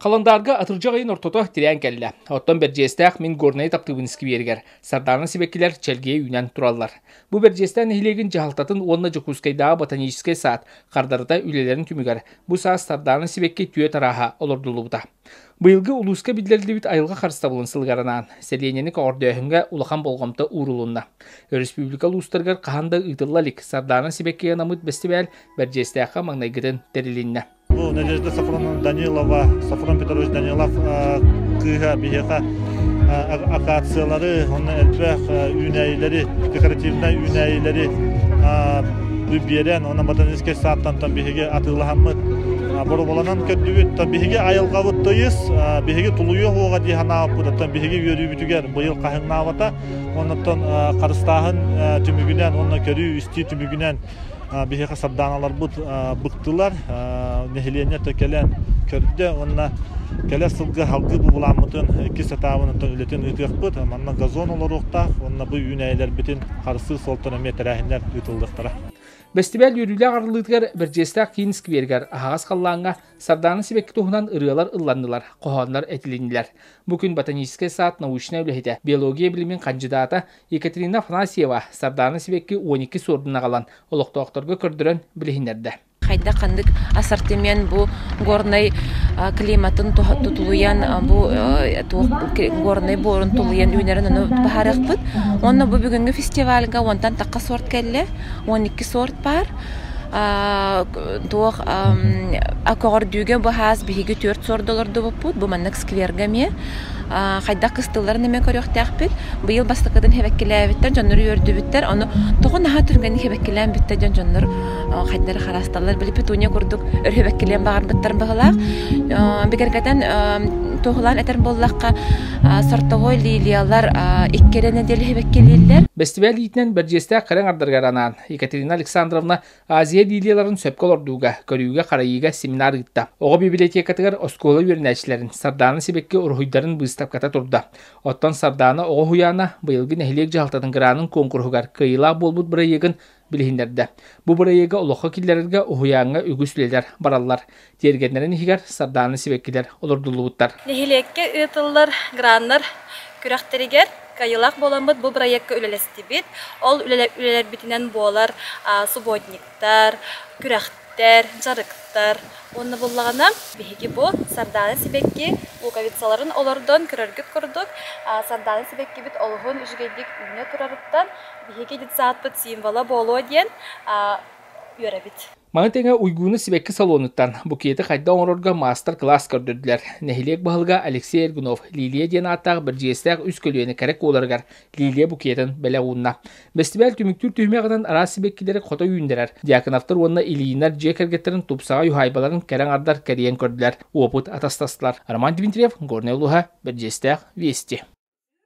Халандаарга атырдьах ыйын ортото тирээн кэллэ. Оттон Бэрдьиэстээх мин Горнай таптыбын скверигэр Сардаана сибэккилэр чэлгиэ үүнэн тураллар. Бу Бэрдьиэстээх нэһилиэгин дьаһалтатын уонна Дьокуускайдааҕы ботаническай саад хардарыта үлэлэрин түмүгэр бу саас Сардаана сибэкки түөрт арааһа олордуллубута. Быйылгы улууска биллэриллибит айылҕа харыстабылын сылыгаранаан сэлиэнньэни көҕөрдөөһүҥҥэ улахан болҕомто уурулунна. Өрөспүүбүлүкэ улуустарыгар хаһан да ыытылла илик Сардаана сибэкки анаммыт бэстибээл Бэрдьиэстээххэ маҥнайгытын тэрилиннэ. Бу Надежда Сафронова Данилова, Сафрон Петрович Данилов кыыһа биһиэхэ акациялары уонна элбэх үүнээйилэри, декоративнай үүнээйилэри биэрэн уонна ботаническай саадтантан биһиги атыылаһаммыт бороболанан көрдүбүт то биһиги айылҕабыт тыйыс биһиги тулуйуох уоҕа дии санаабыт оттон биһиги үөрүүбүтүгэр быйыл хаһыҥнаабата оннуттан харыстааһын түмүгүнэн уонна көрүү истии түмүгүнэн биһиэхэ сардааналарбыт быктылар. Нэһилиэнньэ кэлэн көрдө уонна кэлэр сылга салгыы бубулааммытын иккис этабыныттан үлэтин ыытыахпыт. Манна газон олоруохтаах уонна бу үүнээйилэрбитин харыстыыр суолтан эмиэ тэрээһиннэр ыытыллыахтара. Бэстибээл үөрүүлээх арыллыытыгар Бэрдьиэстээх киин скверигэр аһаҕас халлааҥҥа сардаана сибэкки туһунан ырыалар ылланнылар, хоһооннор этилиннилэр. Бу күн ботаническай саад научнай үлэһитэ, биология билимин хандьыдаата Екатерина Афанасьева Сардаана сибэкки уон икки суордун аҕалан олохтоохторго көрдөрөн билиһиннэрдэ. Хайда-ханнык ассортимент бу горнай климатын тутуйан бу горнай буорун тулуйан үүнэрин ону баһарыахпыт. Онно бу бүгүнгі фестивальга онтан такка сорт кэллэ, он икки сорт бар. туох көҕөрдүүгэ бу хаас биһиги төрт сорт олордубуппут бу маннык скверга ме хайдах кыстылларын эмиэ көрүөхтээхпит. Быйыл бастакытын хибэккилээбиттэр, дьоннор үөрдүбүттэр. Ону тоҕо наһаа түргэнник хибэккилээн бүттэр дьон дьоннор хайдары хараасталлар билиппит Туня курдук өр хибэккилиэн баҕарбыттарын быһылаах. Бигэргэтэн туоһулаан этэр буоллахха, сортовой лилиялар икки эрэ нэдиэлэ хибэккилииллэр. Бэстибээл иитинэн Бэрдьиэстээх кэрэҥ ардарыгар анаан Екатерина Александровна Азия линияларын сөпкө олордууга, көрүүгэ-харайыыга семинар ыытта. Оҕо библиотекатыгар оскуола үөрэнээччилэрин Сардаана Сибэкки уруһуйдарын быыстапката турда. Оттон Сардаана оҕо уһуйаана быйылгы нэһилиэк дьаһалтатын гранын куонкуруһугар кыайыылаах буолбут бырайыагын билиһиннэрдэ. Бу бырайыагы олоххо киллэрэргэ уһуйааҥҥа үгүс үлэлэр бараллар. тиэргэннэрин иһигэр сардааны сибэккилэр олордуллубуттар. Нэһилиэккэ ыытыллар граннар күрэхтэригэр кыайыылаах буоламмыт бу бырайыакка үлэлэстибит. Ол үлэлэрбитинэн буолар субботниктар, күрэхтэр, дьарыктар уонна буоллаҕына, биһиги бу сардаана сибэкки луковицаларын олордон көрөргүт курдук, сардаана сибэккибит олуһун үчүгэйдик үүнэ турарыттан биһиги детсадпыт символа буолуо диэн үөрэбит. Маны тэҥэ Уйгууну сибэкки салонуттан букеты хайда оҥорорго маастар-кылаас көрдөрдүлэр. Нэһилиэк баһылыга Алексей Эргунов Лилия диэн ааттаах бэрдьиэстээх үс көлүөнэ кэрэ куоларыгар Лилия букетын бэлэх уунна. Бэстибээл түмүктүүр түһүмэҕинэн араас сибэккилэри хото үүннэрэр. Дьяконовтар уонна Ильинар дьиэ кэргэттэрин тупсаҕай уһаайбаларын кэрэ аҥардар кэрийэн көрдүлэр, уопут атастастылар. Роман Дмитриев, Горнай улууһа, Бэрдьиэстээх, Вести.